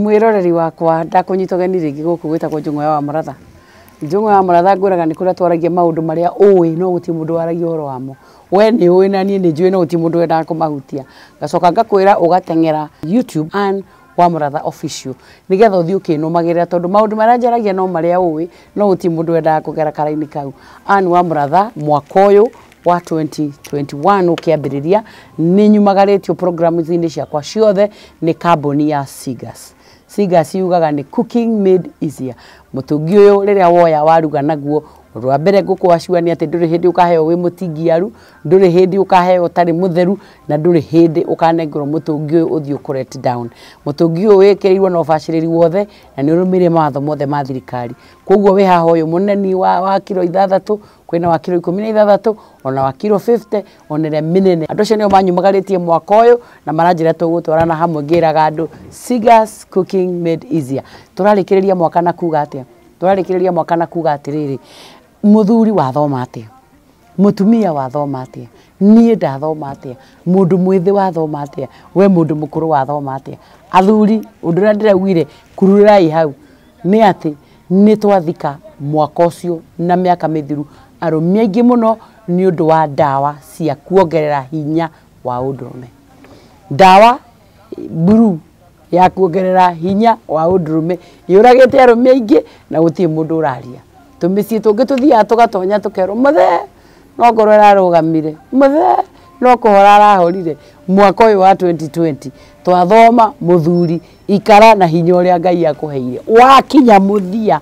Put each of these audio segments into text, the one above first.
mwĩroreri wakwa ndakũnyita ũgeni rĩngĩ gũkũ gwĩtagwo njũng'o ya wa mũratha njũng'o ya mũratha ngwĩraga nĩ kũrĩa twaragia maũndũ marĩa ũĩ no gũtirĩ mũndũ waragia ũhoro wamo we nĩ ũĩ na niĩ nĩ njũĩ no gũtirĩ mũndũ wendaga kũmahutia ngacoka ngakwĩra ũgateng'era youtube Ann wa mũratha official nĩgetha ũthiĩ ũkĩnũmagĩrĩra tondũ maũndũ marĩa njaragia no marĩa ũĩ no gũtirĩ mũndũ wendaga kũgera kara-inĩ kau Ann wa mũratha mwaka ũyũ wa 2021 ũkĩambĩrĩria nĩ nyumagarĩtio programu-inĩ ciakwa ciothe nĩ kambuni ya Sigas. Sigas yugaga nĩ cooking made easier. Mũtũngi ũyũ rĩrĩa woya waruga naguo ũndũ wa mbere ngũkũacua nĩ atĩ ndũrĩ hĩndĩ ũkaheo wĩ mũtingiaru ndũrĩ hĩndĩ ũkaheo ũtarĩ mũtheru na ndũrĩ hĩndĩ ũkanengerwo mũtũngi ũyũ ũthiĩ ũkũ let down mũtũngi ũyũ wĩkĩrĩirwo na ũbacĩrĩri wothe na nĩ ũrũmĩrĩire mawatho mothe ma thirikari koguo wĩ haha ũyũ mũneni wa, wa kiro ithathatũ kwĩna wa kiro ikũmi na ithathatũ ona wa kiro 50 ona ĩrĩa mĩnene andũ acio nĩo manyumagarĩtie mwaka ũyũ na maranjĩra tũgũtwarana hamwe ngĩraga andũ Sigas Cooking Made Easier tũrarĩkĩrĩria mwaka na kuga atĩa tũrarĩkĩrĩria mwaka na kuga atĩrĩrĩ mũthuri wathoma atĩa mũtumia wathoma atĩa niĩ ndathoma atĩa mũndũ mwĩthĩ wathoma atĩa we mũndũ mũkũrũ wathoma atĩa athuri ũndũ ũrĩa ndĩraugire kururaai hau nĩ atĩ Nĩ twathika mwaka ũcio na mĩaka mĩthiru arũmi aingĩ mũno nĩ ũndũ wa ndawa cia kuongerera hinya wa ũndũrũme. Ndawa buruu ya kuongerera hinya wa ũndũrũme yũragĩte arũme aingĩ na gũtirĩ mũndũ ũraria. Tũmĩciĩ tũngĩ tũthiaga tũgatonya tũkerwo mũthee no ngoro ĩrarũgamire, mũthee no kũhora arahorire. Mwaka ũyũ wa twenty twenty twathoma mũthuri ikara na hinya ũrĩa Ngai akũheire. Wakinya mũthia,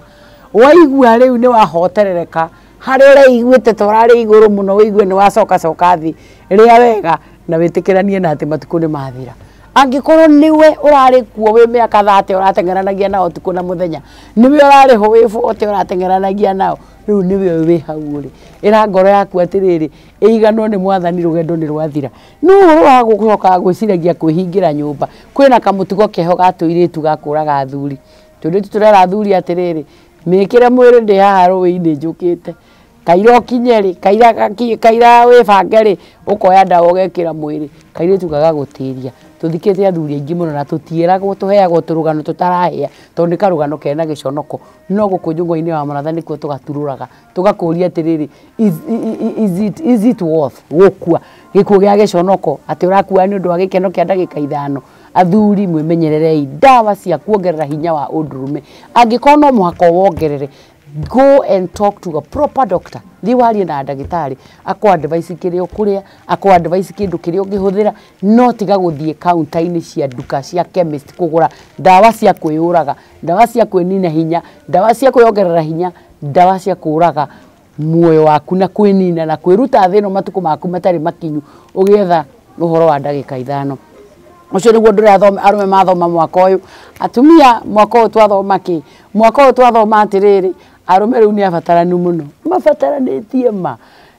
waigua rĩu nĩ wahoterereka, harĩa ũreiguĩte ta ũrarĩ igũrũ mũno ũigue nĩ wacoka coka thĩ, rĩa wega na wĩtĩkĩranie na atĩ matukũ nĩ mathira. Angĩkorwo nĩwe ũrarĩ kuo wĩ mĩaka thate ũrateng'eranagia nao ũtukũ na mũthenya, nĩwe ũrarĩ ho wĩ bote ũrateng'eranagia nao, rĩu nĩwe ũyũ wĩ hau ũrĩ. Ĩra ngoro yaku atĩrĩrĩ, ĩiganwo nĩ Mwathani rũgendo nĩ rwathira. No ũhoro wa gũcokaga gwĩciragia kwĩhingĩra nyũmba, kwĩna kamũtugo keho ga tũirĩtu ga kũraga athuri. Tũirĩtu tũrera athuri atĩrĩrĩ, mĩkĩre mwĩrĩ ndĩ haha rũĩ-inĩ njũkĩte, kaira ũkinye rĩ, kaira gakinya, kaira wĩbange rĩ, ũkoya ndawa ũgekĩra mwĩrĩ. Kairĩtu gagagũtĩria. Tũthikĩte athuri aingĩ mũno na tũtiĩragwo, tũheagwo tũrũgano tũtarahĩa, tondũ nĩ karũgano kena gĩconoko. No gũkũ njũng'wa-inĩ ya maratha nĩkuo tũgaturũraga. tũgakũũria atĩrĩrĩ is, is, it, is it worth gũkua gĩkuũ gĩa gĩconoko atĩ ũrakua nĩ ũndũ wa gĩkeno kĩa ndagĩka ithano athuri mwĩmenyererei ndawa cia kuongerera hinya wa ũndũrũme angĩkorwo no mũhaka wongerere go and talk to a proper doctor thiĩ warie na ndagĩtarĩ akwa advice kĩrĩa ũkũrĩa akwa advice kĩndũ kĩrĩa ũngĩhũthĩra no tiga gũthiĩ kaunta-inĩ cia nduka cia chemist kũgũra ndawa cia kwĩyũraga ndawa cia kwĩnina hinya ndawa cia kwĩyongerera hinya Ndawa cia kũũraga muoyo waku na kwĩnina na kwĩruta thĩ ĩno matukũ maku matarĩ makinyu ũgĩetha ũhoro wa ndagĩka ithano. Ũcio nĩguo ũndũ ũrĩa arũme mathoma mwaka ũyũ. Atumia mwaka ũyũ twathoma kĩ? Mwaka ũyũ twathoma atĩrĩrĩ, arũme rĩu nĩ abataranu mũno. Mabataranĩtie ma!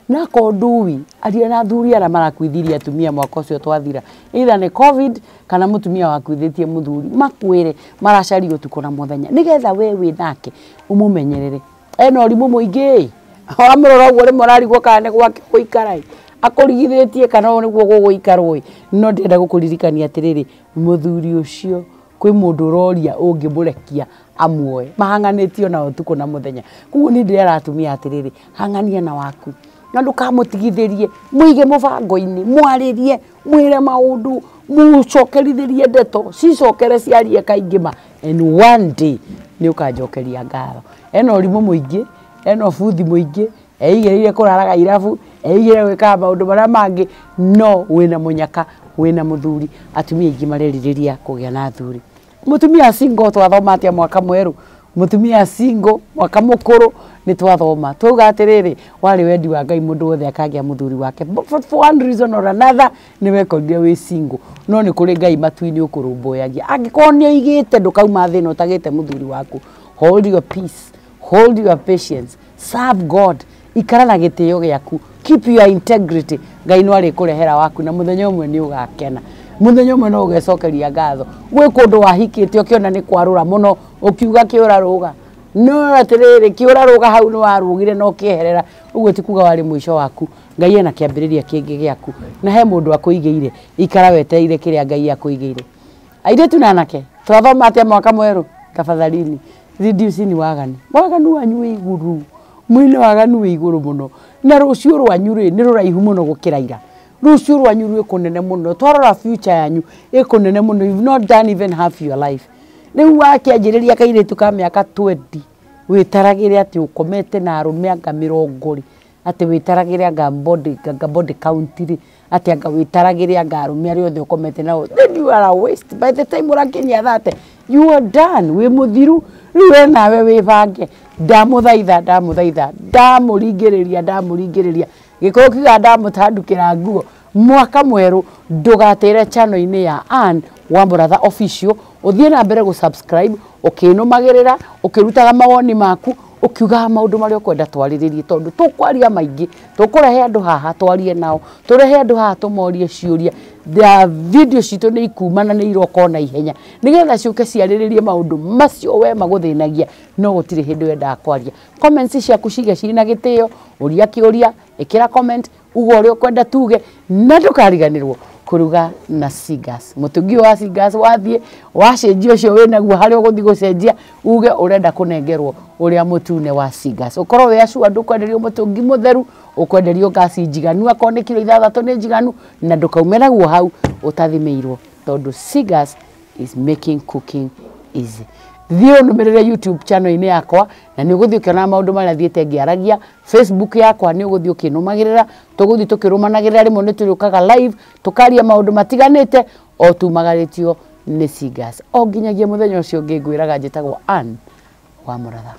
Na ko ndui, aria na athuri aria marakuithirie atumia mwaka ucio twathira. Either ni covid kana mutumia wakuithitie muthuri. Makwire maracaria utuko na muthenya. Nigetha we wi nake umumenyerere. Ena urimu muingi. Wamurora uguo rimwe urarigwo kana ni gwake guikara i. Akurigithitie kana uguo guguikarwo i. No ndenda gukuririkania atiriri, muthuri ucio kwĩ mũndũ ũroria ũngĩmũrekia amuoe mahang'anĩtie ona ũtukũ na mũthenya koguo nĩ ndĩrera atumia atĩrĩrĩ hang'ania na waku na ndũkamũtigithĩrie mũige mũbango-inĩ mwarĩrie mwĩre maũndũ mũcokerithĩrie ndeto cicokere ciarie kaingĩ ma and one day nĩ ũkanjokeria ngatho ena ũrimũ mũingĩ ena ũbuthi mũingĩ Eigĩrĩire kũraraga irabu, eigĩrĩire gwĩkaga maũndũ marĩa mangĩ, no wĩna mũnyaka, wĩna mũthuri. Atumia aingĩ marerirĩria kũgĩa na athuri. Mũtumia single twathoma atĩa mwaka mwerũ? Mũtumia single mwaka mũkũrũ nĩ twathoma. Twauga atĩrĩrĩ, warĩ wendi wa Ngai mũndũ wothe akagĩa mũthuri wake. But for one reason or another nĩ wekorire wĩ single. No nĩ kũrĩ Ngai matu-inĩ ũkũrũmbũyagia. Angĩkorwo nĩ ũigĩte ndũkauma thĩ ĩno ũtagĩte mũthuri waku. Hold your peace, hold your patience. serve god ikara na gĩtĩo gĩaku keep your integrity ngai no arĩkũrehera waku na mũthenya ũmwe nĩ ũgakena mũthenya ũmwe no ũgecokeria ngatho gwĩ kũndũ wahikĩte ũkĩona nĩ kwarũra mũno ũkiuga kĩũra rũga no atĩrĩrĩ kĩũra rũga hau nĩ warũgire no kĩeherera ũguo ti kuga warĩ mũico waku ngai ena kĩambĩrĩria kĩngĩ gĩaku na he mũndũ akũigĩire ikara wetereire kĩrĩa ngai akũigĩire Airĩtu na anake, twathoma atĩa mwaka mwerũ? Tafadhalini, reducing waganu. Waganu wanyu wĩ igũrũ. Mwĩna waganu wĩ igũrũ mũno. Na rũciũ rwanyu rĩ, nĩ rũraihu mũno gũkĩra ira. Rũciũ rwanyu rwĩ kũnene mũno. Twarora future yanyu, ĩ kũnene mũno. You've not done even half your life. Rĩu wakĩanjĩrĩria kairĩtu ka mĩaka 20, wĩtaragĩre atĩ ũkomete na arũme anga mĩrongo rĩ, atĩ wĩtaragĩre anga body anga body count rĩ, atĩ anga wĩtaragĩre anga arũme arĩa othe ũkomete nao, then you are a waste. By the time ũrakinyia thate, you are done, wĩ mũthiru. Rĩu we nawe wĩbange, ndamũthaitha, ndamũthaitha, ndamũringĩrĩria, ndamũringĩrĩria, Gĩkũyũ kiugaga ndamũtandũkĩra nguo, Mwaka mwerũ ndũgatĩre channel inĩ ya Ann wa mũratha official ũthiĩ na mbere gũ subscribe ũkĩnũmagĩrĩra ũkĩrutaga mawoni maku ũkiugaga maũndũ marĩa ũkwenda twarĩrĩrie tondũ tũkwaria maingĩ tũkũrehe andũ haha twarie nao tũrehe andũ haha tũmorie ciũria video citũ nĩ ikuma na nĩ iroka ona ihenya nĩgetha ciũke ciarĩrĩrie maũndũ macio we magũthĩnagia no gũtirĩ hĩndĩ wendaga kwaria comments ciaku cige ciĩ na gĩtĩo ũria kĩũria ĩkĩra comment uga ũrĩa ũkwenda tuge na ndũkariganĩrwo kũruga na singers mũtũngi ũyũ wa singers wathiĩ wacenjia ũcio wĩ naguo harĩa ũgũthiĩ gũcenjia uge ũrenda kũnengerwo ũrĩa mũtune wa singers ũkorwo wĩ acua ndũkwenderio mũtũngi mũtheru ũkwenderio ngasi njiganu akorwo nĩ kiro ithathatũ nĩ njiganu na ndũkaume naguo hau ũtathimĩirwo tondũ singers is making cooking easy thiĩ ũnũmĩrĩre youtube channel-inĩ yakwa na nĩ ũgũthiĩ ũkĩonaga maũndũ marĩa thiĩte ngĩaragia Facebook yakwa nĩ ũgũthiĩ ũkĩnũmagĩrĩra tũgũthiĩ tũkĩrũmanagĩrĩra rĩmwe nĩ tũrĩũkaga live tũkaria maũndũ matiganĩte o tumagarĩtio nĩ singers o nginyagia mũthenya ũcio ũngĩ ngwĩraga njĩtagwo Ann wa mũratha